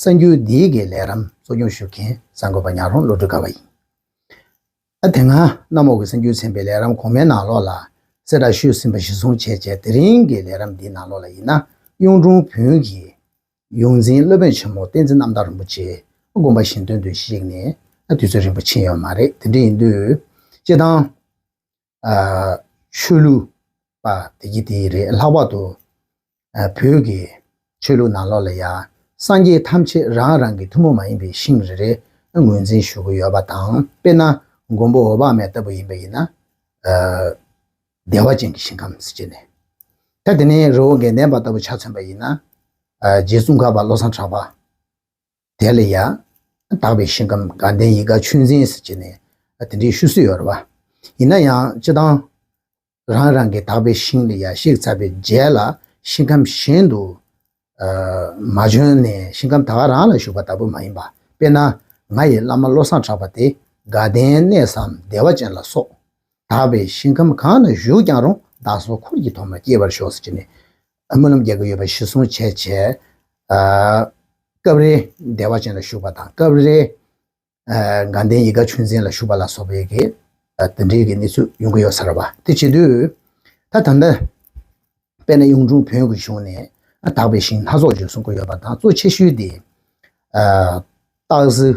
གསར་འགྱུར་འདིའི་གི་ལས་རམ་གཙོ་སྐྱོང་ཞུ་མཁན་གསར་འགོད་པ་ཉག་རོང་བློ་གྲོས་དགའ་བ་ཡིན། ཨ་དེ་སྔ་གནམ་འོག་གི་གསར་འགྱུར་ཚན་པའི་ལས་རམ་གོང་མའི་ནང་ལོགས་ལ་གསལ་བསྒྲགས་ཞུས་ཟིན་པ་གཞི་བཟུང་བྱས་རྗེས་དེ་རིང་གི་ལས་རམ་འདིའི་ནང་ལོགས་ལ་ཡིན་ན་གཡུང་དྲུང་བོན་གྱི་ཡོངས་འཛིན་སློབ་དཔོན་ཆེན་མོ་བསྟན་འཛིན་རྣམ་དག་རིན་པོ་ཆེས་དགོངས་པ་བཞིན་དོན་དུ་གཞིགས་ནས་དུས་ཚོད་རིང་པོ་ཕྱིན་ཡོད་མ་རེད་དེ་འདྲ་ཡིན་དུས་སྤྱི་བཏང། ཆོས་ལུགས་པ་དེ་གྱིས་དེ་རེད་ལྷག་པར་དུ་བོད་ཀྱི་ཆོས་ལུགས་ནང་ལོགས་ལ་ཡང་སངས་རྒྱས་ཐམས་ཅད་རང་རང་གི་ཐུན་མོང་མ་ཡིན་པའི་ཤིང་རེ་རེ་ངོས་འཛིན་ཞུ་གི་ཡོད་པ་དང་དཔེར་ན་མགོན་པོ་འོ་བག་མེད་ལྟ་བུ་ཡིན་པ་ཡིན་ན། བདེ་བ་ཅན་གྱི་ཞིང་ཁམས་སུ་སྐྱེས་ནས། ད་དེ་ནས་རི་བོ་དགེ་ལྡན་པ་ལྟ་བུ་ཆ་མཚོན་པ་ཡིན་ན། རྗེ་བཙུན་གར་པ་བློ་བཟང་གྲགས་པ། དེ་ལ་ཡང་དག་པའི་ཞིང་ཁམས་དགའ་ལྡན་ཡིད་དགའ་ཆོས་འཛིན་ཟེར་གྱི་ནས་དེ་འདྲའི་ཤུལ་སྲོལ་ཡོད་རེད་པ། ཡིན་ན་ཡང་སྤྱི་བཏང་རང་རང་གི་དག་པའི་ཞིང་ལ་ཡར་གཤེགས་ཚར་བའི་རྗེས་ལ་ཞིང་ཁམས་གཞན་དུ་མ་བྱོན་ནས་ཞིང་ཁམས་ད་ག་རང་ལ་བཞུགས་པ་ལྟ་བུ་མ་ཡིན་པ་དཔེར་ན་ང་ཡི་བླ་མ་བློ་བཟང་གྲགས་པ་དེ་དགའ་ལྡན་གནས་སམ་བདེ་བ་ཅན་ལ་སོགས་དག་པའི་ཞིང་ཁམས་གང་ན་བཞུགས་ཀྱང་རུང་བདག་སོགས་འཁོར་གྱི་ཐོག་མར་སྐྱེ་བར་ཤོག་ཟེར་གྱི་ནས་སྨོན་ལམ་རྒྱག་གི་ཡོད་པ་གཞི་བཟུང་བྱས་རྗེས། སྐབས་རེ་བདེ་བ་ཅན་ལ་ཞུགས་པ་དང་སྐབས་རེ་དགའ་ལྡན་ཡིད་དགའ་ཆོས་འཛིན་ལ་ཞུགས་པ་ལ་སོགས་པའི་གི་འདི་འདྲའི་གི་གནས་ཚུལ་ཡོང་གི་ཡོད་ས་རེད་བ། དེ་བྱེད་དུས་ད་ད་ལྟ་དཔལ་ན་གཡུང་དྲུང་བོན་གྱི་གཞུང་ནས་དག་པའི་ཞིང་སྣ་ཚོགས་བརྗོད་གསུང་གི་ཡོད་པ་དང་གཙོ་ཆེ་ཤོས་དེ། སྟག་གཟིག་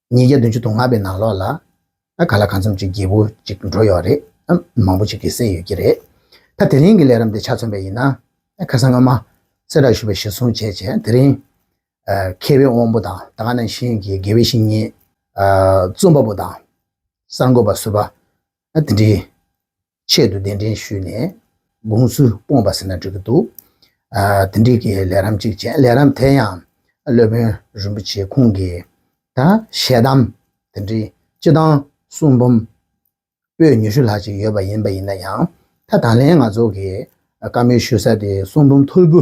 ཉིས་བརྒྱ་བདུན་ཅུ་དང་ལྔ་པའི་ནང་ལོགས་ལ་ཨ་ག་ལ་གང་འཚམ་ཅིག་རྒྱལ་པོ་ཅིག་འགྲོ་ཡོད་རེད་ཨ་མང་པོ་ཅིག་གིས་བསད་ཡོད་ཀྱི་རེད་ད་དེ་རིང་གི་ལས་རམ་དེ་ཆ་མཚོན་པའི་ཡིན་ན་ཨ་ཁ་སང་སྔོན་མ་སེ་ར་ཞུ་བའི་ཞེ་སོང་བྱས་བྱས་དེ་རིང་མཁས་པའི་དབང་པོ་དང་ད་ནང་བཞིན་གྱི་དགེ་བའི་བཤེས་གཉེན་རྩོམ་པ་པོ་དང་གསར་འགོད་པ་ཟུར་པ་དེ་འདྲའི་ཆེད་དུ་གདན་འདྲེན་ཞུས་ནས་དགོངས་ཚུལ་སྤོངས་པ་ཟེར་ན་འགྲིག་གི་འདུག་དེ་འགྲིག་གི་ལས་རམ་ཅིག་བྱས་ལས་རམ་དེ་ཡང་སློབ་དཔོན་རིན་པོ་ཆེ་ཁོང་གིས་ཞལ་གདམས་དེ་འདྲི་སྤྱི་དང་གསུང་འབུམ་པོད་ཉི་ཤུ་ལྷག་ཅིག་ཡོད་པ་ཡིན་པ་ཡིན་ན་ཡང་ད་དང་ལེན་ང་ཚོ་གིས་བཀའ་མོལ་ཞུ་ས་དེ་གསུང་འབུམ་ཐོར་བུ་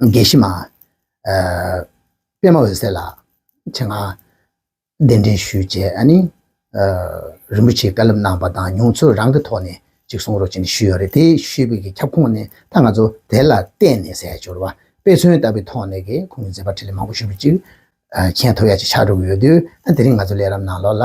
དགེ་བཤེས་མ། པདྨ་འོད་གསལ་ལ་ཆེ་མངགས། གདན་འདྲེན་ཞུས་རྗེས་ཨ་ནི། རིན་པོ་ཆེའི་བཀའ་སློབ་གནང་བ་དང་མྱོང་ཚོར་རང་གི་ཐོག་ནས་ཅིག་གསུང་རོགས་བྱས་ཞུས་ཡོད་རེད་དེ་ཞུས་པའི་གི་ཁྱབ་ཁོངས་ནས་ད་ང་ཚོ་དེ་ལ་བརྟེན་ནས་ཟས་སྦྱོར་བ་དཔེ་མཚོན་ལྟ་བུའི་ཐོག་ནས་གི་ཁོང་གི་མཛད་པ་ཁྲི་ལེ་མང་པོ་ཞུས་པ་ཅིག་མཁྱེན་ཐུབ་ཡ་ཅིག་ཆགས་འགྲོ་གི་ཡོད་དུས་ཨ་དེ་རིང་ང་ཚོ་ལས་རབས་ནང་ལོགས་ལ་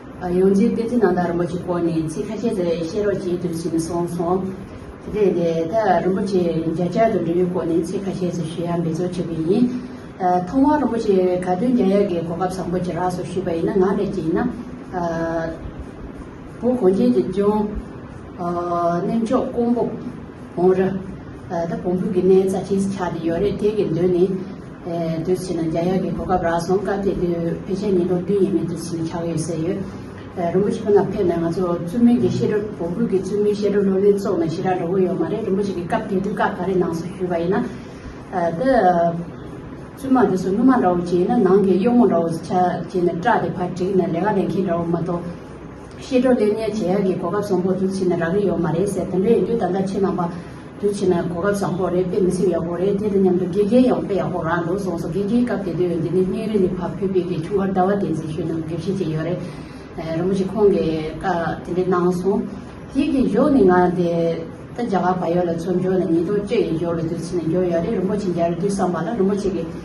ཡོངས་འཛིན་བསྟན་འཛིན་ནང་དང་རིན་པོ་ཆེ་སྐོར་ནས་ཚིག་ཁ་ཤས་དེར་བཤད་རོགས་བྱེད་དུ་ཕྱིན་སོང་སོང། དེ་ལྟ་ཡིན་ད་ལྟ་རིན་པོ་ཆེ་རྒྱ་གྱར་དུ་འབྲི་བའི་སྐོར་ནས་ཚིག་ཁ་ཤས་སུ་ཞུ་ཡག་འབད་རྩོལ་བྱེད་པ་ཡིན། ཐོག་མར་རིན་པོ་ཆེ་ག་དུས་རྒྱ་ཡག་གི་གོ་སྐབས་བཟང་པོ་ཇི་རགས་སུ་ཞུས་པ་ཡིན་ན་ངག་ལས་ཅི་ཡིན་ན། བོད་གངས་ཅན་གྱི་ལྗོངས། གནས་མཆོག་ཀོང་པོ་བོང་རི། ད་བོང་བུ་གི་གནས་རྩ་ཆེས་ཆགས་ཏེ་ཡོད་རེད་དེ་གི་མདུན་ནས། དུས་ཕྱིས་ན་རྒྱ་ཡག་གི་གོ་སྐབས་རག་སོང་སྐབས་དེ་དུས་ཕལ་ཆེར་ཉིན་གྲོ་བདུན་ཡས་མས་དུས་ཕྱིས་ན་ཆགས་ཡོད་ཟེར་ཡོད། རིན་པོ་ཆེ་ཁོ་ན་ཕེབས་ནས་ང་ཚོ་བཙུན་མོས་ཀྱི་བཤད་སྒྲོ་བོང་བུ་གི་བཙུན་མོའི་བཤད་སྒྲོ་ལོ་ལོན་བཙོག་ནས་ཞི་རག་འགྲོ་གི་ཡོད་མ་རེད་རིན་པོ་ཆེ་གི་སྐབས་དེ་དུས་སྐབས་ག་རེ་ནང་སོ་ཞུས་པ་ཡིན་ན། འདི་བཙུན་མ་འདི་ཚོ་སྣུམ་མ་འདྲ་བོ་བྱས་ཡིན་ན་ནང་གི་གཡོག་མོ་འདྲ་བོ་བྱས་ནས་སྐྲ་དེ་ཕར་བྲེགས་ནས་ལས་ཀ་ལས་མཁན་འདྲ་བོ་མ་གཏོགས། ཤེས་གྲོགས་ལྟས་ངན་བྱེད་ཡག་གི་གོ་སྐབས་བཟང་པོ་རྒྱུ་ཕྱིན་ན་རག་རི་ཡོད་མ་རེད་ཟེར་དེ་འདྲ་ཡིན་དུས་ད་ལྟ་ཕྱི་ནང་པ་རྒྱུ་ཕྱིན་ན་གོ་སྐབས་བཟང་པོ་རེད་དཔེ་མི་སྲིད་ཡག་པོ་རེད་དེ་དང་མཉམ་དུ་དགེ་རྒན་ཡང་དཔེ་ཡག་པོ་རག་འདུག་སོང་སོང་དགེ་རྒན་སྐབས་དེ་དུས་འདི་ནས་སྙིང་རེ་ནས་བབས་ཕུད་དཔེ་དེ་ཆུང་བར་ཟླ་བ་བདེ་མཛེས་ཤོས་ནང་དགེ་བཤེས་ཅིག་ཡོད་རེད་རིན་པོ་ཆེ་ཁོང་གིས་བཀའ་དེ་འདྲ་གནང་སོང་དེའི་དགེ་སྦྱོང་ནི་ང་དེ་ད་རྒྱ་གར་བ་ཡོད་ལ་ཚོ་འཇོག་ནས་ཉིས་སྟོང་བཅོ་ཡི་འཇོག་ལ་དུས་ཚིགས་ནས་འཇོག་ཡོད་རེད་རིན་པོ་ཆེ་འཇལ་དུས་བསམ་པ་ལ་རིན་པོ་ཆེ་གི།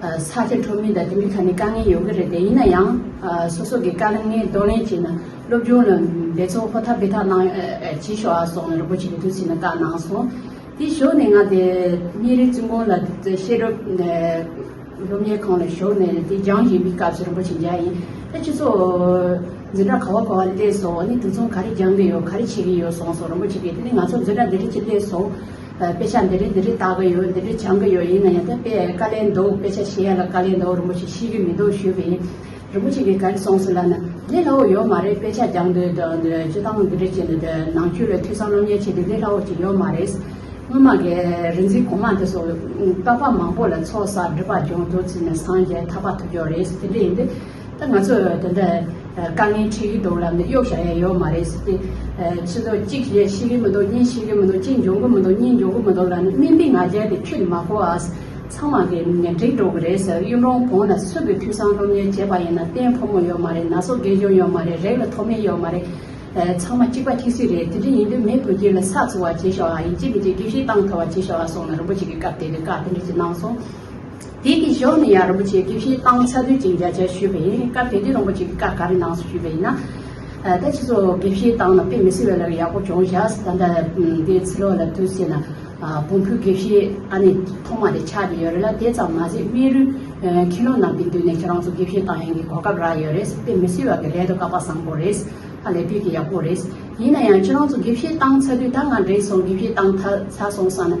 ས་ཆ་གྲོང་མི་དང་དེ་མིན་ཁ་ནས་དཀའ་ངལ་ཡོང་གི་རེད་དེ་ཡིན་ན་ཡང་སོ་སོ་གི་དཀའ་ངལ་གདོང་ལེན་བྱས་ན་སློབ་སྦྱོང་ལ་འབད་བརྩོན་ཧོར་ཐག་འབད་ཐག་གནང་བྱེད་ཤོག་ཨ་སོགས་རིན་པོ་ཆེ་གི་ཐུགས་བཞེད་ནས་བཀའ་གནང་སོང། དེ་ཞོག་ནས་ང་དེ་སྙན་རིགས་བཙུན་དགོན་ལ་བཤད་སྒྲུབ་སློབ་གཉེར་ཁང་ལ་ཞོག་ནས་དེ་སྦྱང་བཞིན་པའི་སྐབས་སུ་རིན་པོ་ཆེ་མཇལ་ཡིན། ཨ་ཁྱེད་ཚོ་འཛིན་གྲྭ་ག་བ་ག་བ་སླེབས་སོང་ནས་དུས་མཚུངས་ག་རེ་སྦྱང་གི་ཡོད་ག་རེ་བྱེད་ཀྱི་ཡོད་གསུངས་སོང་རིན་པོ་ཆེ་གིས་དེ་ནས་ང་ཚོ་འཛིན་གྲྭ་འདི་འདྲ་ཅིག་སླེབས་སོང། དཔེ་ཆ་འདི་རིགས་འདི་རིགས་བཏགས་ཀྱི་ཡོད་འདི་རིགས་སྦྱང་གི་ཡོད་ཡིན་ན་ཡང་དེ་དཔེ་བཀའ་ལན་འདུག་དཔེ་ཆ་ཤེས་ཡ་ལ་བཀའ་ལན་འདུག་རིན་པོ་ཆེ་ཤེས་ཀྱི་མི་འདུག་ཞུས་པ་ཡིན། རིན་པོ་ཆེ་གིས་ག་རེ་གསུངས་སོང་ལབ་ན། ལས་སླ་བོ་ཡོད་མ་རེད་དཔེ་ཆ་སྦྱང་འདོད་དང་སྤྱོད་སྟངས་འདི་རིགས་བྱེད་འདོད་དེ་ནང་ཆོས་ལ་ཐོས་བསམ་སློབ་གཉེར་བྱེད་དུས་ལས་སླ་བོ་ཞིག་ཡོད་མ་རེད། སྔོན་མ་གི་རིག་འཛིན་གོང་མ་དེ་སོགས་རྟག་པ་མང་པོ་ལ་ཚོགས་བསགས་སྒྲིབ་པ་སྦྱོང་དུ་ཚུད་ནས་སངས་རྒྱས་ཐར་པ་ཐོབ་ཀྱི་རེད་དེ་འདྲ་ཡིན་དུས། ད་ང་ཚོ་དེ་འདྲ་དཀའ་ངལ་འཕྲད་ཀྱི་འདུག་ལབ་ནས་གཡོག་བྱ་ཡ་ཡོད་མ་རེད་ཟེར་ཏེ། ཕྱི་ཟླ་གཅིག་བཤད་ཤེས་ཀྱི་མི་འདུག་གཉིས་བཤད་ཀྱི་མི་འདུག་གཅིག་འཇོན་གྱི་མི་འདུག་གཉིས་འཇོན་གྱི་མི་འདུག་ལབ་ནས་སྨན་པའི་ང་རྒྱལ་དེ་ཁྱོད་ཀྱིས་མ་གོ་ཨཱས། ཚང་མ་གིས་ཉེ་འཁྲིས་འགྲོ་གི་རེད་ཟེར་གཡུ་མགྲོན་གོང་ན་སུས་ཀྱིས་འཐུས་ཚང་སློབ་གཉེར་བྱས་པ་ཡིན་ན་བརྟེན་ཕོ་མོ་ཡོད་མ་རེད་ན་སོ་རྒན་གཞོན་ཡོད་མ་རེད་རེག་ལ་ཐོག་མེད་ཡོད་མ་རེད། ཚང་མ་གཅིག་པ་ཁྱི་སི་རེད་དེ་འདྲ་ཡིན་དུས་མེ་བོད་སྐྱིད་ལ་ས་འཚོལ་བ་བྱེད་ཤོག་ཨ་ཡིན་གཅིག་མི་གཅིག་དགེ་བཤེས་བཏང་ཐོབ་བ་བྱེད་ཤོག་ཨ་སོང་ན་རིན་པོ་ཆེ་གི་སྐབས་དེ་འདྲའི་བཀའ་དེ་འདྲ་ཅིག་གནང་སོང། དེའི་གི་གཞོགས་ནས་ཡང་རིན་པོ་ཆེའི་དགེ་བཤེས་སྟངས་ཚ་དུས་ཅིག་མཇལ་བྱར་ཞུས་པ་ཡིན་སྐབས་དེ་དུས་རིན་པོ་ཆེ་གི་བཀའ་ག་རེ་གནང་སོ་ཞུས་པ་ཡིན་ན། ད་ཕྱིས་སུ་དགེ་བཤེས་སྟངས་ལ་དཔེ་མི་སྲིད་བས་ལར་ཡག་པོ་སྦྱོང་བཞག་ད་ལྟ་དེ་ཚེ་ལོ་ལ་དུས་ཟེར་ན། བོང་བུ་དགེ་བཤེས་ཨ་ནི་ཐོག་མ་དེ་ཆགས་ཀྱི་ཡོད་རེད་ལ་དེ་ཙམ་མ་ཟད་སྨན་རུའི་མཁན་སློབ་རྣམས་ཀྱི་མདུན་ནས་ཁྱེད་རང་ཚོ་དགེ་བཤེས་སྟངས་ཡིན་གྱི་གོ་སྐབས་རག་ཡོད་རེད་དཔེ་མི་སྲིད་བ་གི་ལས་དོ་བཀའ་བག་བཟང་པོ་རེད། ཧ་ལས་དུས་ཀྱི་ཡག་པོ་རེད། ཡིན་ན་ཡང་ཁྱེད་རང་ཚོ་དགེ་བཤེས་སྟངས་ཚ་དུས་ད་ང་འགྲིག་སོང་དགེ་བཤེས་སྟངས་ཚ་སོང་བསམ་ན།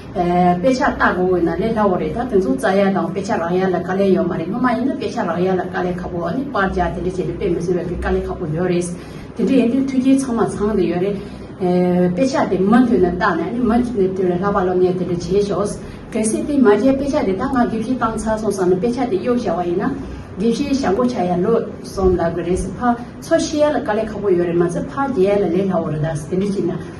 དཔེ་ཆ་བལྟ་དགོས་འོས་ན་ལས་སླ་བོ་རེད་ད་དེ་ཚོ་རྩ་ཡལ་དང་དཔེ་ཆ་རག་ཡལ་ལ་དཀའ་ལས་ཡོད་མ་རེད་སྔོན་མ་ཡིན་ན་དཔེ་ཆ་རག་ཡལ་ལ་དཀའ་ལས་ཁ་པོ་ནི་དཔར་རྒྱག་དེ་འདྲ་བྱས་ཏེ་དཔེ་མི་བཟོ་བའི་དཀའ་ལས་ཁ་པོ་ཡོད་རེད། དེ་འདྲ་ཡིན་དུས་མཐུན་རྐྱེན་ཚང་མ་ཚང་དུ་ཡོད་རེད། དཔེ་ཆ་དེ་མུ་མཐུད་ནས་བལྟ་ནས་ནི་མུ་མཐུད་ནས་དེ་ལས་སླ་བ་སློབ་གཉེར་དེ་འདྲ་བྱེད་ཤོག། གལ་སྲིད་དེ་མ་བྱས་དཔེ་ཆ་དེ་ད་ང་དགེ་བཤེས་བཏང་ཚར་སོང་བསམ་ནས་དཔེ་ཆ་དེ་གཡོག་བཞག་པ་ཡིན་ན། དགེ་བཤེས་ཞྭ་མགོ་ཆག་ཡ་ལོས་སོང་ལབ་གི་རེད། ཕར་ཚོ་ཤེས་ཡལ་ལ་དཀའ་ལས་ཁ་པོ་ཡོད་རེད་མ་ཚད་ཕར་རྒྱག་ཡལ་ལ་ལས་སླ་བོ་རེད་ད་དེ་འདྲ་བྱས་ན།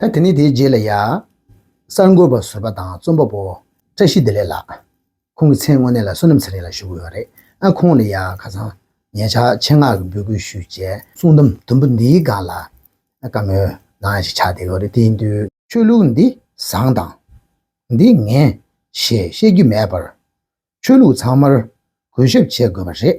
ད་དེ་ནས་དེའི་རྗེས་ལ་ཡང། གསར་འགོད་པ་བཟོད་པ་དང་རྩོམ་པ་པོ་བཀྲ་ཤིས་བདེ་ལེགས་ལགས། ཁོང་གི་མཚན་དངོས་གནས་ལ་བསོད་ནམས་ཚེ་རིང་ལགས་ཞུ་གི་ཡོད་རེད་ཨ། ཁོང་ལ་ཡང་ཁ་སང་ངས་ཕྱག་ཆེན་སྔགས་ཀྱི་འབོད་སྐུལ་ཞུས་རྗེས། གསུང་དམ་དུམ་བུ་འདིའི་སྒང་ལ་བཀའ་མོལ་ནང་ཞིག་ཆགས་བསྡད་ཡོད་རེད་དེ་ཡིན་དུས། ཆོས་ལུགས་འདི་བཟང་དང། འདི་ངན། ཞེས་བཤད་རྒྱུ་མེད་པར། ཆོས་ལུགས་ཚང་མར་གུས་ཞབས་བྱེད་དགོས་པ་རེད།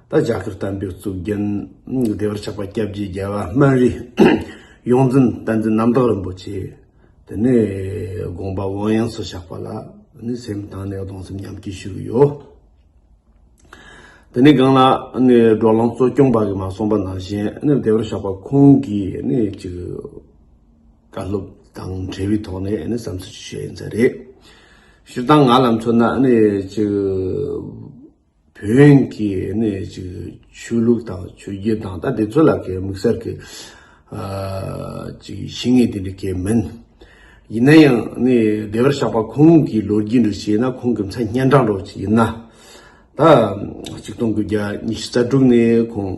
ད་རྒྱ་གར་གཏམ་དཔེ་གཙུག་རྒྱན་བདེ་བར་ཆགས་པ་སྐྱབས་རྗེ་རྒྱལ་བ་སྨན་རི་ཡོངས་འཛིན་བསྟན་འཛིན་རྣམ་དག་རིན་པོ་ཆེ་དེ་ནས་དགོངས་པ་དབང་ཡངས་སུ་བཞག་པ་ལ་ནི་སེམས་གཏང་ནས་གདུང་སེམས་མཉམ་སྐྱེ་ཞུ་གི་ཡོད། དེ་ནས་སྒང་ལ་ནི་འགྲོ་ལམ་གཙོ་སྐྱོང་པ་གི་མ་གསུངས་པ་ནང་བཞིན་ནི་བདེ་བར་ཆགས་པ་ཁོང་གི་ནི་ཅིག་བཀའ་སློབ་དང་འབྲེལ་བའི་ཐོག་ནས་ནི་བསམ་ཚུལ་ཅིག་བཤད་ཡིན་ཚད་རེད། ཞུ་སྟངས་ང་ལ་མཚོན་ན་ནི་ཅིག། བོན་གྱི་ནི་ཆོས་ལུགས་དང་ཆོས་བརྒྱུད་དང་ད་དེ་ཚོ་ལ་ཀྱི་དམིགས་བསལ་གྱི་ཞིག་ངེས་དེ་འདྲ་ཀྱི་མིན། ཡིན་ན་ཡང་ནི་བདེ་བར་གཤེགས་པ་ཁོང་གི་ལོ་རྒྱུས་འདྲ་ཞིག་ན་ཁོང་གི་མཚན་སྙན་གྲགས་འགྲོ་བ་ཞིག་ཡིན་ན། ད་གཅིག་སྟོང་དགུ་བརྒྱ་ཉི་ཤུ་རྩ་དྲུག་ནས་ཁོང།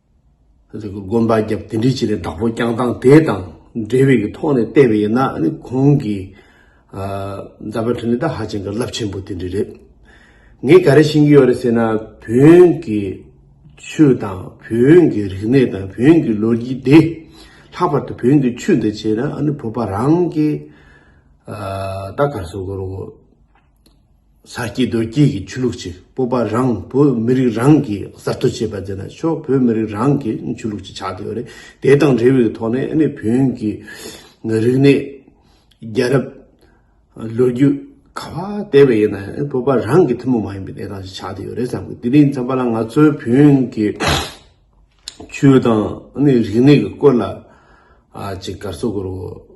དགོན་པ་རྒྱབ་དེ་འདྲི་བྱས་ནས་བདག་པོ་བསྐྱངས་སྟངས་དེ་དང་འབྲེལ་བའི་གི་ཐོག་ནས་བལྟས་པ་ཡིན་ན་ནི་ཁོང་གི་མཛད་པ་ཁྲོད་ནས་ད་ཧ་ཅང་གི་རླབས་ཆེན་པོ་དེ་འདྲི་རེད། ངས་ག་རེ་ཤེས་ཀྱི་ཡོད་རེད་ཟེར་ན་བོན་གྱི་ཆོས་དང་བོན་གྱི་རིག་གནས་དང་བོན་གྱི་ལོ་རྒྱུས་དེ་ལྷག་པར་དུ་བོན་གྱི་ཆོས་འདི་བྱས་ན་ནི་བོད་པ་རང་གི་ད་གར་སོང་གི་རོགས། ས་སྐྱེས་རྡོ་སྐྱེས་ཀྱི་ཆོས་ལུགས་ཀྱི་སྤོབས་པ་རང་བོད་མི་རིགས་རང་གིས་གསར་གཏོད་བྱས་པ་དེ་ནི་ཆོས་བོད་མི་རིགས་རང་གི་ཆོས་ལུགས་ཀྱི་ཆགས་སྡོད་རེད། དེ་དང་འབྲེལ་བའི་ཐོག་ནས་ནི་བོན་གྱི་རིག་གནས། རྒྱལ་རབས། ལོ་རྒྱུས། ག་བ་བལྟས་པ་ཡིན་ན་བོད་པ་རང་གི་ཐུན་མོང་མ་ཡིན་པའི་གནས་སྟངས་ཤིག་ཆགས་སྡོད་ཡོད་རེད་བསམ་དགོས་དེ་ནས་མཚམས་པ་ལ་ང་ཚོའི་བོན་གྱི་ཆོས་དང་ནི་རིག་གནས་ཀྱི་སྐོར་ལ་ཅིག་གར་སོ་དགོས་རོགས།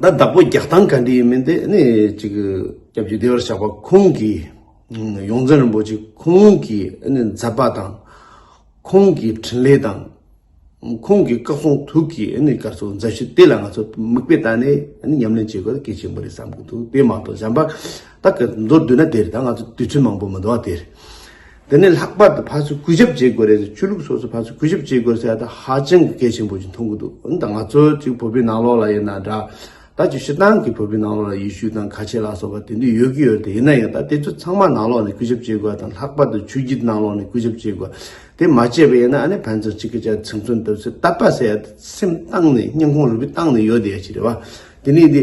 ད་བདག་པོ་རྒྱག་སྟངས་ག་འདྲི་ཡིན་མིན་དེ་ནི་ཅིག་སྐྱབས་རྗེ་བདེ་བར་གཤེགས་པ་ཁོང་གིས་ཡོངས་འཛིན་རིན་པོ་ཆེ་ཁོང་གི་མཛད་པ་དང་ཁོང་གི་འཕྲིན་ལས་དང་ཁོང་གི་བཀའ་གསུང་ཐུགས་ཀྱི་སྐར་ཚོགས་མཛད་བཞི་དེ་ལ་ང་ཚོ་མིག་དཔེ་བལྟ་ནས་ཉམས་ལེན་བྱེད་དགོས་ན་གལ་ཆེན་པོ་རེད་བསམ་གྱི་འདུག་དེ་མ་གཏོགས་གཞན་པ་ད་ག་མདོར་བསྡུས་ན་དེ་རེད་ད་ང་ཚོ་དུས་ཚོད་མང་པོ་མི་འདུག་བ་དེ་རེད། འདི་ནི་ལྷག་པར་དུ་ཕར་ཚུར་གུས་ཞབས་བྱེད་དགོས་རེད་ཟེར་ཆོས་ལུགས་སོ་སོར་ཕར་ཚུར་གུས་ཞབས་བྱེད་དགོས་ཟེར་ཡ་ད་ཧ་ཅང་གི་སྐད་ཆེན་པོ་ཞིག་མཐོང་གི་འདུག་འོན་ཏང་ང་ཚོའི་ཚིག་བོད་པའི་ནང་ལོགས་ལ་ཡིན་ན་འདྲ་ད་ཆོས་ཤི་ཏང་གི་བོད་པའི་ནང་ལོགས་ལ་ཡེ་ཤུ་དང་ཁ་ཆེ་ལ་སོགས་པ་དེ་འདུས་ཡོད་ཀྱི་ཡོད་དེ་ཡིན་ན་ཡང་ད་དེ་ཚོ་ཚང་མ་ནང་ལོགས་ནས་གུས་ཞབས་བྱེད་དགོས་དང་ལྷག་པར་དུ་ཆོས་བརྒྱུད་ནང་ལོགས་ནས་གུས་ཞབས་བྱེད་དགོས་དེ་མ་བྱས་པ་ཡིན་ན་ཨ་ནེ་ཕན་ཚུན་གཅིག་གི་ཅག་ཚིག་མཚོན་ཐུབ་ཟེར་ད་པ་ཟེར་ཡ་ད་སེམས་ཏང་ནས་སྙིང་ཁོང་རུས་པའི་ཏང་ནས་ཡོད་དེ་ཡ་ཆི་རེད་བ། དེ་ནས་དེ།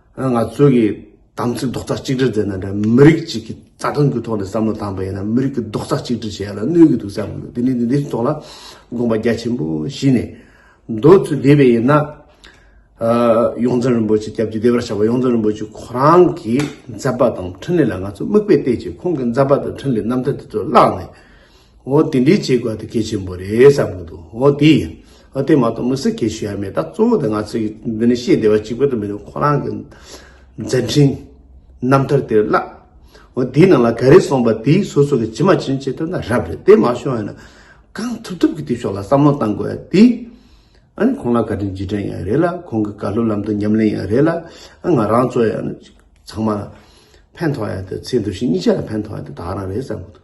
ང་ཚོས་ཀྱི་དམ་ཚིག་རྡོག་རྩ་གཅིག་སྒྲིལ་དེ་ནི་མི་རིགས་གཅིག་གི་རྩ་དོན་གྱི་ཐོག་ནས་བསམ་བློ་བཏང་བས་ན་མི་རིགས་ཀྱི་རྡོག་རྩ་གཅིག་སྒྲིལ་བྱེད་ཡ་ལ་གནོད་ཀྱི་འདུག་བསམ་ཡོད་དེ་ནི་འདི་འདིའི་ཐོག་ལ་དགོངས་པ་རྒྱ་ཆེན་པོ་བཞེས་ནས་འདོད་ཚུལ་བསྡེབས་པས་ཡིན་ན། ཡོངས་འཛིན་རིན་པོ་ཆེ་སྐྱབས་ཀྱི་བདེ་བར་གཤེགས་པ་ཡོངས་འཛིན་རིན་པོ་ཆེ་ཁོ་རང་གི་མཛད་པ་དང་འཕྲིན་ལས་ལ་ང་ཚོས་དམིགས་པའི་ལྟས་ཀྱིས་ཁོང་གི་མཛད་པ་དང་འཕྲིན་ལས་རྣམ་ཐར་དེ་ཚོ་བཀླགས་ནས། འོ་དེ་འདྲའི་བྱེད་དགོས་དེ་གལ་ཆེན་པོ་རེད་བསམ་གྱི་འདུག་འོ་དེ་ཡིན་འོ་དེ་མ་གཏོགས་མི་སེར་གྱིས་ཞུ་ཡ་མེད་ད་གཙོ་བོ་དེ་ང་ཚོས་འདི་ནས་ཤེས་བདེ་བ་གཅིག་པོ་དེ་མིན་ཁོ་རང་གི་མཛད་འཕྲིན་རྣམ་ཐར་དེར་བརླག་འོ་དེའི་ནང་ལ་ག་རེ་གསུངས་པ་དེ་སོ་སོ་གི་ཇི་མ་ཇི་བཞིན་བྱེད་ཐུབ་ན་རབ་རེད་དེ་མ་བྱུང་བས་ན་གང་ཐུབ་ཐུབ་ཀྱིས་དེ་ཕྱོགས་ལ་བསམ་བློ་བཏང་དགོས་ཡ་དེ་ཨ་ཁོང་ལ་བཀའ་དྲིན་རྗེས་དྲན་ཡང་རེད་ལ་ཁོང་གི་བཀའ་སློབ་ལམ་དུ་ཉམས་ལེན་ཡང་རེད་ལ་ང་རང་ཚོ་ཡང་ཚང་མ་ལ་ཕན་ཐོགས་ཡ་དེ་ཚེ་འདུ་ཤེས་གཉིས་ཆ་ལ་ཕན་ཐོགས་ཡ་དེ་དག་རང་རེད་བསམ་གྱི་འདུག།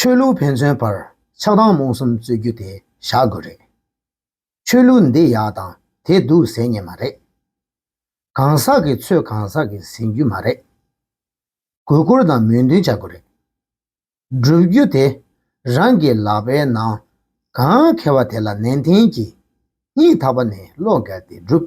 ཆོས་ལུགས་ཕན་ཚུན་བར་ཆགས་སྡང་རྨོངས་གསུམ་རྩོད་རྒྱུ་དེ་བཞག་དགོས་རེད། ཆོས་ལུགས་འདི་ཡག་དང་དེ་སྡུག་ཟེར་ངེས་མ་རེད། གང་ཟག་གི་ཚོས་གང་ཟག་གིས་ཟིན་རྒྱུ་མ་རེད། གུས་བཀུར་དང་མོས་མཐུན་བྱ་དགོས་རེད། སྒྲུབ་རྒྱུ་དེ་རང་གི་ལག་པའི་ནང་གང་ཁེལ་བ་དེ་ལ་ནན་ཏན་གྱིས་སྙིང་ཐག་པ་ནས་བློ་འགལ་ཏེ་སྒྲུབ།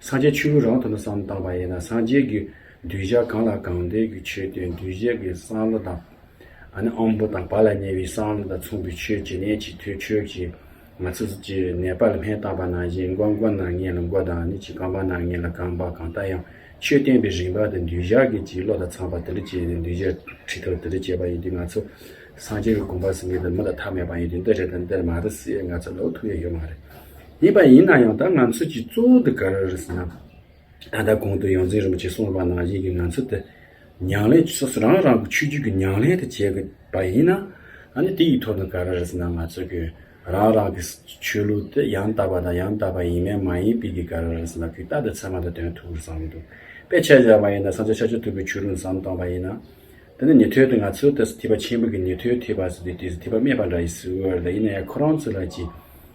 སངས་རྒྱས་ཆོས་ཀུན་རང་དུ་ནི་བསམ་བཏང་བ་ཡིན་ན་སངས་རྒྱས་ཀྱི་གདུལ་བྱ་གང་ལ་གང་འདོད་ཀྱི་ཆོས་དོན་གདུལ་བྱ་གི་སང་བློ་དང། ཨ་ནི་བོ་དང་བ་ལ་ཉེ་བའི་སང་བློ་དང་མཚུངས་པའི་ཆོས་ཇི་སྙེད་ཅིག་ཐོས་ཆོས་ཀྱི་ང་ཚུལ་གྱིས་གནས་པ་ལ་སྨྲས་བཏང་བ་ན་གཞན་མགོན་མགོན་ན་ངན་ལ་མགོ་དང་ནི་ཅི་གང་བ་ན་ངན་ལ་གང་བ་གང་ལྟ་ཡང་ཆོས་བསྟན་པའི་རིམ་པ་དང་གདུལ་བྱ་གི་སྤྱིའི་བློ་དང་ཚངས་པ་དེ་འདྲ་སྐྱེས་ནས་གདུལ་བྱ་ཁྲི་ཐོར་དེ་འདྲ་སྐྱེས་པ་ཡིན་དུས་ང་ཚོ་སངས་རྒྱས་ཀྱི་དགོངས་པ་ཟིན་གྱི་འདི་མི་ལ་མཐའ་མེད་པ་ཡིན་དུས་འདི་རེད་དམ་འདི་མ་རེད་ཟེར་ཡས་ང་ཚོ་ལོག་ཐུག་ཡས་ཡོད་མ་རེད། ཡིན་པ་ཡིན་ན་ཡང་ད་ང་ཚོས་ཀྱི་གཙོ་བོ་འདི་ག་རེ་རེད་ཟེར་ན། ད་ལྟ་གོང་དུ་ཡོངས་འཛིན་རིན་པོ་ཆེས་གསུངས་པ་ནང་བཞིན་གྱི་ང་ཚོ་དེ་ཉང་ལེ་སོ་སོ་རང་རང་གི་ཆོས་བརྒྱུད་ཀྱི་ཉང་ལེ་དུ་བྱེད་དགོས་པ་ཡིན་ན། ཨ་ནི་དེ་ཡི་ཐོག་ནས་ག་རེ་རེད་ཟེར་ན་ང་ཚོ་གི་རང་རང་གི་ཆོས་ལུགས་དེ་ཡང་དག་པ་དང་ཡང་དག་པ་ཡིན་མིན་མ་ཡིན་པའི་གི་ག་རེ་རེད་ཟེར་ན་གི་རྟགས་དེ་ཚད་མ་དང་དོན་ཐུག་གི་ཟམ་མི་འདུག་པས་ཆ་བཞག་པ་ཡིན་ན་ས་ཆ་ཆ་ཆ་ཐུབ་པའི་ཆོས་ལུགས་ཟམ་གཏོང་པ་ཡིན་ན། དེ་ནི་ཉི་ཐོད་དེ་ང་ཚོས་དེ་སྲིད་ཐིགས་པ་ཆེན་པོ་གི་ཉི་ཐོད་ཐིགས་པ་ཟེར་དུས་དེ་སྲིད་ཐིགས་པ་སྨྲས་པ་འདྲ་ཡིན་སྲིད་འོས་ལ་ཡིན་ན་ཡང་ཁོ་རང་ཚོས་ལ་གྱི་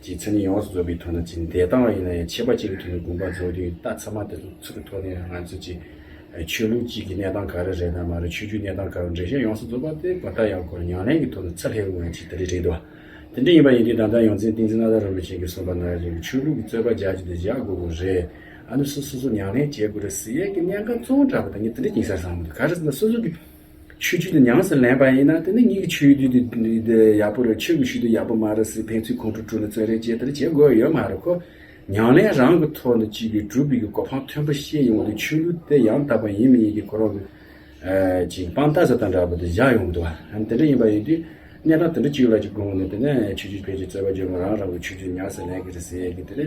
རྗེའི་མཚན་ཉིད་ཡོངས་སུ་རྫོགས་པའི་ཐོག་ན་ཅི་འདས་བཏང་བ་ཡིན་ན་ཡང་ཆད་པ་གཅིག་གི་ཐོག་ནས་དགོངས་པ་རྫོགས་དུས་རྟགས་ཚང་མ་དེ་ཚོ་གི་ཐོག་ནས་ང་ཚོས་ཅི། ཆོས་ལུགས་གཅིག་གི་གནས་སྟངས་ག་རེ་རེད་ན་མ་རེད་ཆོས་རྒྱུད་གནས་སྟངས་ག་རེ་འགྲེལ་བཤད་ཡོངས་སུ་རྫོགས་པ་དེ་བར་ཐག་ཡང་འཁོར་མྱང་ལན་གྱི་ཐོག་ནས་ཚད་ལྷད་དབུ་འང་ཅིག་དེ་འདྲས་རེད་དོ། དེ་འདྲས་ཡིན་པ་ཡིན་དུས་ད་ལྟ་ཡོངས་འཛིན་ཏིང་འཛིན་ནཱ་ད་རོ་མི་ཆེན་གྱི་གསུངས་པ་ནང་བཞིན་གྱི་ཆོས་ལུགས་ཀྱི་རྩོད་པ་རྒྱག་རྒྱུ་དེ་བཞག་དགོས་དགོས་རེད། ཨ་ནུ་སུ་སོ་སོ་མྱང་ལན་བྱེད་དགོས་རེད་ཟེར་ཡས་ཀྱི་གནད་འགག་བཙོང་དྲགས་པ་དེ་ཉིད་དེ་འདྲས་ཡིན་ས་བཟང་མོ་འདུག་ག་རེ་ཟེར་ན་སོ་སོ་གི་ཆོས་བརྒྱུད་དུ་ཉམས་སུ་ལེན་པ་ཡིན་ན་དེ་ནི་ངེད་ཀྱི་ཆོས་བརྒྱུད་དུ་ཡག་པོ་རེད་ཆོས་ཀྱི་བཞུད་དུ་ཡག་པོ་མ་རེད་ཟེར་ཕན་ཚུན་ཁོང་ཁྲོ་བསྐྲུན་ལ་བརྩོན་རེས་བྱེད་དེར་བྱེད་དགོས་ཡོད་མ་རེད་ཁོ། ཉང་ལན་རང་གི་ཐོག་ནས་སྤྱི་པའི་སྒྲུབ་དཔེ་ཀྱི་གོ་འཕང་མཐོན་པོ་བཤད་ཡོང་དུས་ཆོས་ལུགས་དེ་ཡང་དག་པ་ཡིན་མི་ཡིན་གྱི་ཁོ་རང་གི་ཅིག་སྤང་རྟགས་ཟེར་དང་འདྲ་པོ་དེ་བཞག་ཡོང་འདུག་ཨང་དེ་འདྲ་ཡིན་པ་ཡིན་དུས་གནས་སྟངས་དེ་འདྲ་ཅིག་ལ་ཅིག་དགོངས་ནས་དེ་ནས་ཆོས་བརྒྱུད་བོད་ཀྱི་རྩོད་པ་བརྒྱུད་ང་རང་རང་གི་ཆོས་བརྒྱུད་ཉམས་སུ་ལེན་གྱི་རེད་ཟེར་གི་དེ་ནི།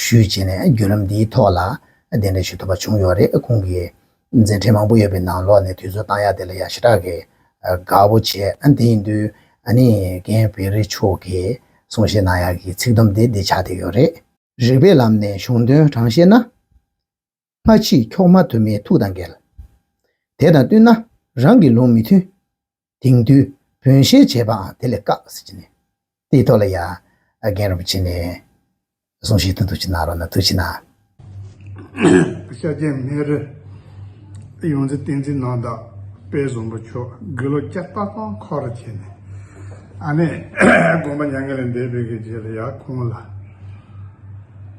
ཞུས་བྱས་ནས་བརྒྱུད་ལམ་འདིའི་ཐོག་ལ་དེ་འདྲ་ཞུ་ཐུབ་པ་བྱུང་ཡོད་རེད་ཁོང་གིས་མཛད་འཕྲིན་མང་པོ་ཡོད་པའི་ནང་ལོགས་ནས་དུས་ཚོད་བཏང་ཡག་དེ་ལ་ཡང་ཞེ་དྲག་གིས་དགའ་བོ་བྱས་དེ་ཡིན་དུས་ནི་རྒན་བེ་རི་མཆོག་གིས་གསུང་བཤད་གནང་ཡག་གི་ཚིག་དུམ་དེ་འདི་ཆགས་བསྡད་ཡོད་རེད། རིགས་པའི་ལམ་ནས་གཞུང་དོན་དྲང་བཤད་ན། མ་མཆིས་འཁྱོག་མ་དུ་མའི་ཐུགས་དང་འགལ། དེ་དང་བསྟུན་ན་རང་གི་ལུང་མི་མཐུན། དེང་དུས་བོན་གཤེན་བྱེད་པའང་དེ་ལས་བཀག། དེའི་ཐོག་ལ་ཡ། རྒན་རིན་པོ་ཆེ་ནས། གསུང་བཞིན་དུ་འདུ་བྱེད་ནང་རོ་ན་དུ་བྱེད་ནང། ཤཱཀྱ་སྨན་རི། ཡོངས་འཛིན་བསྟན་འཛིན་ནང་དག་པའི་གཟུངས་པོ་མཆོག་དགེ་ལོ་སྐྱ་རྟག་སྟོང་འཁོར་ར་བྱས་ནས། ཨ་ནེ། དགོངས་པ་མྱ་ངན་ལས་འདས་པའི་གེགས་བྱས་ལ་ཡ། ཁོང་ལ།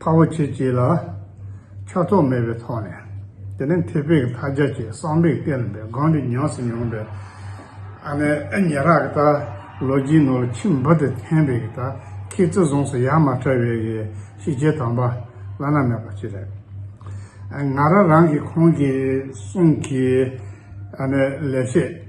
ཕ་བོ་ཁྱེད་ཀྱིས་ལ་ཆགས་ཐོགས་མེད་པའི་ཐོག་ནས་དེ་ནས་མཐེ་བོས་མཐའ་རྒྱ་ཆེ་གསང་པས་བསྟན་པའི་སྒང་རི་ཉག་སུ་མྱོང་པའི་ཨ་ནེ་ཨེ་ཉེ་རག་གི་ད་ལོ་རྒྱུས་ནོར་ལ་ཁྱིམ་འབུ་དེ་འཐེན་པའི་གི་ད་ཁྱེད་བརྩི་བཟུང་སུ་ཡང་མ་བྲལ་བའི་གི་ཤི་རྗེས་དམ་པ་བླ་ན་མེད་པ་ཅི་རེད་ང་ར་རང་གི་ཁོང་གི་གསུང་གི་ཨ་ནེ་ལས་ཤེས།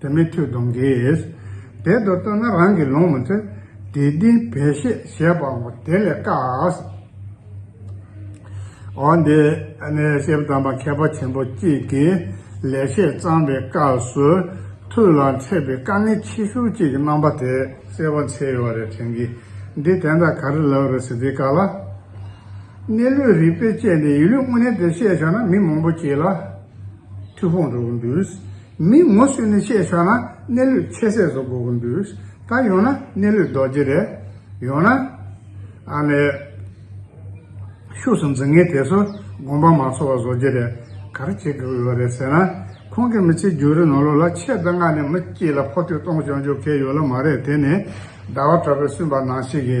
དེ་མི་ཐོས་གདོན་གྱིས། དེ་དུ་བཏོན་ན་རང་གིས་ལོངས་མི་ཐོས། དེ་དུས་བལ་ཤེས་ཞེས་པའོ། དེ་ལས་བཀག། འོ་འདི་ནི་ཤེལ་དམ་པ་མཁས་པ་ཆེན་པོ་གཅིག་གིས་ལེགས་བཤད་གཙང་བའི་སྐབས་སུ། ཐུགས་ལ་འཕྲད་པའི་དཀའ་ངལ་ཆེ་ཤོས་གཅིག་གི་རྣམ་པ་དེ་གསལ་བར་འཆད་ཡོད་པ་རེད་དྲན་གི། འདི་དེ་འདྲ་ག་རེ་ལབ་རེད་ཟེར་དུས་བཀག་ལ། གནས་ལུགས་རིག་པས་དཔྱད་ནས་ཡིན་ལུགས་དངོས་གནས་དེ་བཤད་ཆོག་ན་མི་མང་པོ་ཁྱེད་ལ་མཐུ་དཔུང་འགྲོ་གི་འདུག་མི་ངོ་བསུས་ནས་བཤད་ཆོག་ན་གནས་ལུས་ཆེ་ཟས་བཟོ་དགོས་ཀྱི་འདུག་ད་ཡོང་ན་གནས་ལུས་རྡོ་རྗེ་རེད། ཡོང་ན། ཨ་ལས། ཤུགས་སུ་འཛིན་ངེས་དེ་ཚོ་དགོངས་པ་མ་འཚོ་བ་བཟོ་རྒྱུ་རེད། ག་རེ་བྱེད་དགོས་ཡོད་རེད་ཟེར་ན། ཁོང་གི་མི་ཚེ་རྒྱུན་རིང་ནོར་ལུག་ལ་ཆེད་དུ་མངགས་ནས་མི་སྐྱིད་ལ་ཕོག་ཐུག་གཏོང་ཆོག་འཇོག་མཁན་ཡོད་ལ་མ་རེད་དེ་ནི་ཟླ་བ་གྲགས་པས་སུན་པ་ནང་བྱེད་ཀྱི།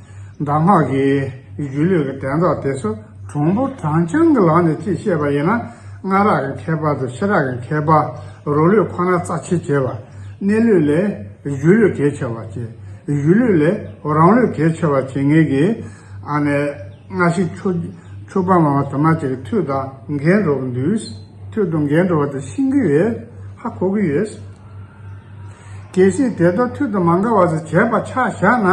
གདམས་ངག་གི་སྒྱུ་ལུས་ཀྱི་དྲན་རྟོག་དེ་ཚོ་གྲོང་པོ་བགྲང་བྱང་གི་ལག་ནས་ཅིག་བཤད་པ་ཡིན་ན་སྔ་རག་གི་མཁས་པ་དང་ཕྱི་རག་གི་མཁས་པ་རོ་ལུས་ཁོ་ན་རྩ་ཆེ་བྱེད་པ། གནས་ལུས་ལས་སྒྱུ་ལུས་གལ་ཆེ་བར་བྱེད། སྒྱུ་ལུས་ལས་རང་ལུས་གལ་ཆེ་བར་བྱེད་ངེས་ཀྱི། ཨ་ནས། སྔ་ཕྱི་ཕྱུག་པ་མང་བ་དུ་མ་ཅིག་མཐུད་དང་འགལ་འགྲོ་གི་འདུག་མཐུད་དང་འགལ་འགྲོ་བ་དེ་ཤིན་གྱི་ཡོད། ཧ་གོ་གི་ཡོད། གལ་སྲིད་དེ་དག་མཐུད་དུ་མ་འགག་བ་ཞིག་བྱས་པ་ཆགས་བཞག་ན།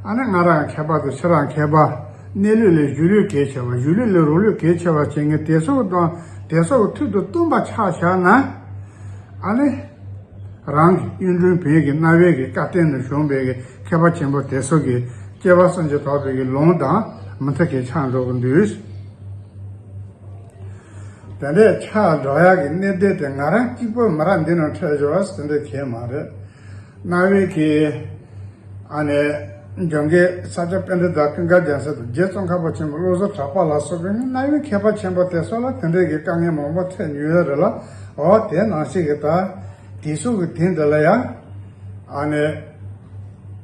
ཨ་ནི་ང་རང་མཁས་པ་དང་ཁྱེད་རང་མཁས་པ། གནས་ལུགས་ལས་གཞུ་ལུས་གལ་ཆེ་བ་གཞུ་ལུས་ལས་རོ་ལུས་གལ་ཆེ་བ་བྱེད་མཁན་དེ་སོགས་དང་དེ་སོགས་མཐུད་དུ་བཏུམས་པ་ཆགས་བཞག་ན། ཨ་ནི། རང་གི་གཡུང་དྲུང་བོན་གྱི་རྣ་བའི་གི་བཀའ་བསྟན་ནས་བྱུང་བའི་གི་མཁས་པ་ཆེན་པོ་དེ་སོགས་ཀྱི་སྐྱེ་བ་སུམ་ཅུ་ཐོག་པའི་གི་ལུང་དང་མི་མཐུད་གི་ཆགས་འགྲོ་གི་འདུག། དེ་འདྲའི་ཆགས་སྒྲོག་ཡག་གི་གནས་བསྡད་དེ་ང་རང་གཅིག་པོ་མི་ར་འདི་ནང་ཁྲལ་ཞོར་བ་ཟེར་འདོད་ཁྱེད་མ་རེད། གནའ་བོའི་གི་ཨ་ནེ་ལྗོན་ཀའི་ས་ཆ་དཔེ་འདྲ་དག་ཀིང་ཀ་རྒྱང་སེ་དང་རྗེ་ཙོང་ཁ་པ་ཆེན་པོ་བློ་བཟོ་གྲགས་པ་ལགས་སོགས་ཀིང་གནའ་བོའི་མཁས་པ་ཆེན་པོ་དེ་སོགས་ལ་དེ་འདྲའི་གི་དཀའ་ངལ་མང་པོ་འཕྲད་མྱོང་ཡོད་རེད་ལ་འོ་དེ་ནང་བཞིན་གི་ད་དེ་སོགས་གི་དེ་འདྲ་ལ་ཡང་ཨ་ནེ།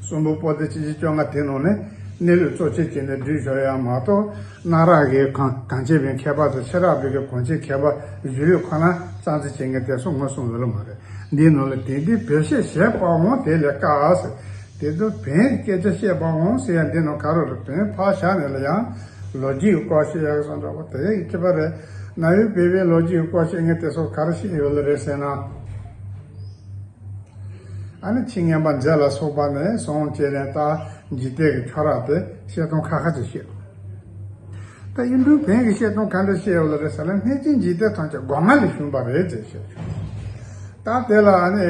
གསུམ་པོ་པོ་ཏི་ཆིག་ཁྲི་བཅོ་ལྔ་དེའི་ནང་ནས་གནས་ལུགས་གཙོ་ཆེར་བྱས་ནས་བསྡུས་ཆོག་ཡང་མ་གཏོགས་གནའ་རབས་ཀྱི་གངས་ཅན་པའི་མཁས་པ་དང་ཕྱི་རབས་པའི་གངས་ཅན་མཁས་པ་བཞི་ལུས་ཁོ་ན་རྩ་འཛིན་བྱེད་མཁན་དེ་ཚོ་ངོས་བཟུང་ཡོད་ལ་མ་རེད། འདིའི་ནང་ལ་དེང་དུས་བེད་ཤེས་བྱེད་པ་འོང་དེ་ལས་དཀའ་ཟེར། དེ་ཚོ་བེད་སྐད་ཆ་བཤད་པ་འོང་ཟེར་ཡང་འདི་ནང་ག་རུ་རུ་དོན་ཕག་ཞག་ནས་ལ་ཡང་ལོ་རྒྱུས་ཀྱི་སྐོར་བཤད་ཡག་སོང་འདྲ་བོ་དེ་ཡག་གི་པ་རེད། གནའ་བོའི་བོད་པའི་ལོ་རྒྱུས་ཀྱི་སྐོར་བཤད་མཁན་དེ་ཚོ་ག་རུ་ཤེས་ཡོད་ལ་རེད་ཟེར་ན། ཨ་ནི་ཁྱི་ངན་པ་མཛེས་ལ་སོགས་པ་ནས་བཟུང་སྐྱེས་ནས་ལྟ་འཇིག་རྟེན་གྱི་ཁྱོ་རག་དེ་བཤད་སྟོང་ཁ་ཁ་ཅིག་བཤད། ད་གཡུང་དྲུང་བོན་གྱི་བཤད་སྟོང་ག་འདྲ་བཤད་ཡོད་ལ་རེད་ཟེར་ན་གནས་ཆེན་འཇིག་རྟེན་ཐང་ཆེན་སྒོ་ང་ལས་བྱུང་བ་རེད་ཅེས་བཤད་བྱུང། ད་དེ་ལ་ཨ་ནི།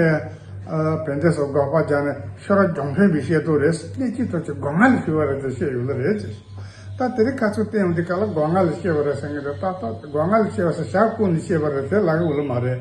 བན་དེ་སོགས་འགོག་པ་རྒྱག་ནས་ཤོ་ར་གྱོང་ཕན་གྱི་བཤད་སྟོང་རེད་ཟེར་གནས་ཆེན་ཐང་ཆེན་སྒོ་ང་ལས་བྱུང་བ་རེད་ཅེས་བཤད་ཡོད་ལ་རེད་ཅེས་བཤད། ད་དེ་རིགས་ཁ་ཚུར་བསྟན་འོང་དུས་ག་ལ་སྒོ་ང་ལས་བཤད་པ་རེད་ཟེར་ངེས་རེད་ད་ལྟ་སྒོ་ང་ལས་བཤད་པ་ཟེར་ཞག་བརྐུ་ནས་བཤད་པ་རེད་དེ་ལག་ལུགས་མ་རེད།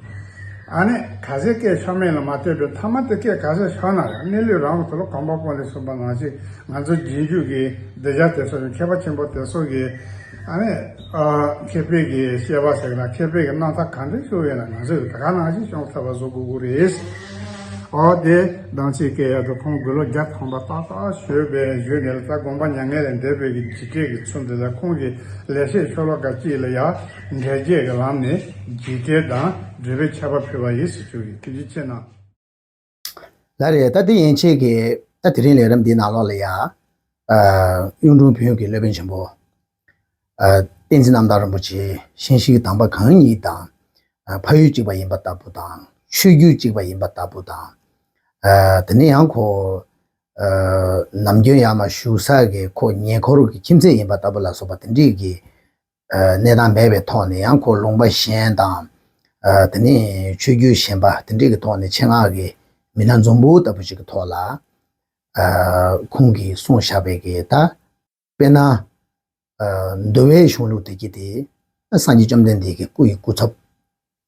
ཨ་ནི། ག་ཟེ་སྐད་ཆོ་མེད་ལ་མ་ལྟོས་པའི་ཐ་མ་དེ་སྐད་ག་ཟེ་ཤོད་ན་ཡང་གནས་ལུས་རང་ཚུར་གོམ་པ་སྤོ་ལེ་གསུངས་པ་ནང་བཞིན་ང་ཚོ་རྗེས་འཇུག་གི་སྡེ་བརྒྱ་དེ་ཚོ་ནི་མཁས་པ་ཆེན་པོ་དེ་ཚོ་གི་ཨ་ནི། མཁས་པའི་གི་བཤད་པ་ཟེར་ན་མཁས་པའི་གི་སྣང་མཐའ་གང་འདྲ་ཤོད་ཡོད་ན་ང་ཚོས་ད་ག་ནང་བཞིན་ཤོང་ཐབས་པ་བཟོ་དགོས་ཀུ་རེད། ཨོ་དེ་སྡང་ཆེ་སྐད་ཡག་དུ་ཁོང་དགུ་ལོ་བརྒྱ་ཐམ་པ་ཏག་ཏག་ཤོད་པའི་བཞུད་ནས་ལ་ད་དགོངས་པ་མྱ་ངན་ལས་འདས་པའི་གི་བྱིས་སྐད་གི་ཚུལ་འདི་ལ་ཁོང་གི་ལས་བཤད་ཤོ་ལོ་ཀ་གཅིག་ལ་ཡ། འགལ་རྐྱེན་གྱི་ལམ་ནས་འཇིག་རྟེན་དང་འབྲེལ་བའི་ཁྱད་པར་ཕུལ་བ་ཡིན་ཟེར་ཞུ་ཡི་ཕྱིར་ན། ལ་རེ་ད་དེ་ཡན་ཆད་ཀྱི་ད་དེ་རིང་ལས་རབས་འདིའི་ནང་ལོགས་ལ་ཡང། གཡུང་དྲུང་བོན་གྱི་སློབ་དཔོན་ཆེན་པོ། བསྟན་འཛིན་རྣམ་དག་རིན་པོ་ཆེ་ཤན་ཤིག་དམ་པ་གང་ཉིད་དང། ཕ་ཡུལ་གཅིག་པ་ཡིན་པ་ལྟ་བུ་དང་ཆོས་བརྒྱུད་གཅིག་པ་ཡིན་པ་ལྟ་བུ་དང། དེ་ནས་ཡང་ཁོ། ནམ་རྒྱུན་ཡར་མ་བཞུགས་ས་གི་ཁོ་ཉེ་འཁོར་གྱི་ཁྱིམ་མཚེས་ཡིན་པ་ལྟ་བུ་ལ་སོགས་པ་དེ་འདྲིས་ཀྱི། གནས་དང་མེད་པའི་ཐོག་ནས་ཡང་འཁོར་ལུང་པ་གཞན་དང། དེ་ནས་ཆོས་བརྒྱུད་གཞན་པ་དེ་འདྲས་ཀྱི་ཐོག་ནས་ཆེད་མངགས་ཀྱི་མི་སྣ་འཛོམས་པོ་ལྟ་བུ་ཞིག་གི་ཐོག་ལ། ཁོང་གིས་གསུངས་བཞག་པའི་གི་ད། དཔེར་ན། འདུལ་བའི་གཞུང་ལུགས་དེ་གྱིས་ཏེ། སངས་རྒྱས་བཅོམ་ལྡན་འདས་ཀྱི་སྐུ་ཡི་སྐུ་ཚབ།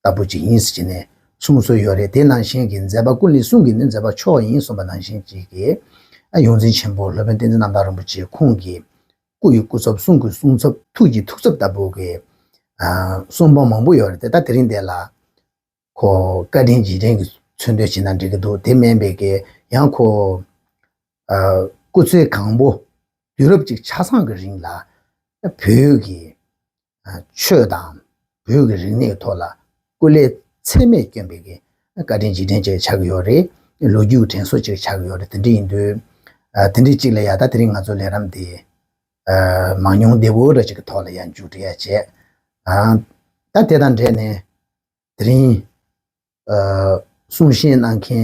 ལྟ་བུ་ཅིག་ཡིན་ཟེར་གྱི་ནས་གསུངས་སྲོལ་ཡོད་རེད་དེ་ནང་བཞིན་གྱི་མཛད་པ་ཀུན་ལས་གསུང་གི་ནི་མཛད་པ་མཆོག་ཡིན་གསུངས་པ་ནང་བཞིན་གྱི་གི། ཡོངས་འཛིན་ཆེན་པོ་སློབ་དཔོན་བསྟན་འཛིན་རྣམ་དག་རིན་པོ་ཆེ་ཁོང་གི། སྐུ་ཡི་སྐུ་ཚབ་གསུང་གི་གསུང་ཚབ་ཐུགས་ཀྱི་ཐུགས་ཚབ་ལྟ་བུ་གི། གསུང་འབངས་མང་པོ་ཡོད་རེད་དེ་ད་དེ་རིང་འདི་ལ། ཁོ་བཀའ་དྲིན་རྗེས་དྲན་གྱི་ཚུལ་འདོན་བྱེད་ན་འགྲིག་གི་འདུག་དེ་མིན་པའི་གི་ཡང་ཁོ། སྐུ་ཚེ་གང་པོ། དུས་རབས་གཅིག་ཆ་ཚང་གི་རིང་ལ། བོད་ཀྱི། ཆོས་དང་བོད་ཀྱི་རིག་གནས་ཐོག་ལ་སྐུ་ལས་ཚད་མེད་བསྐྱོན་པའི་བཀའ་དྲིན་རྗེས་དྲན་ཅིག་ཆགས་ཀྱི་ཡོད་རེད། ལོ་རྒྱུས་དྲན་གསོ་ཅིག་ཆགས་ཀྱི་ཡོད་རེད་དེ་འདྲ་ཡིན་དུས། དེ་འདྲའི་ཅིག་ལ་ཡང་ད་དེ་རིང་ང་ཚོ་ལས་རམས་དེ། མང་ཉུང་བདེ་བོ་འདྲ་ཅིག་གི་ཐོག་ལ་ཡང་མཇུག་འགྲིལ་ཡ་བྱས། ད་དེ་དང་འབྲེལ་ནས་དེ་རིང། གསུང་བཤད་གནང་མཁན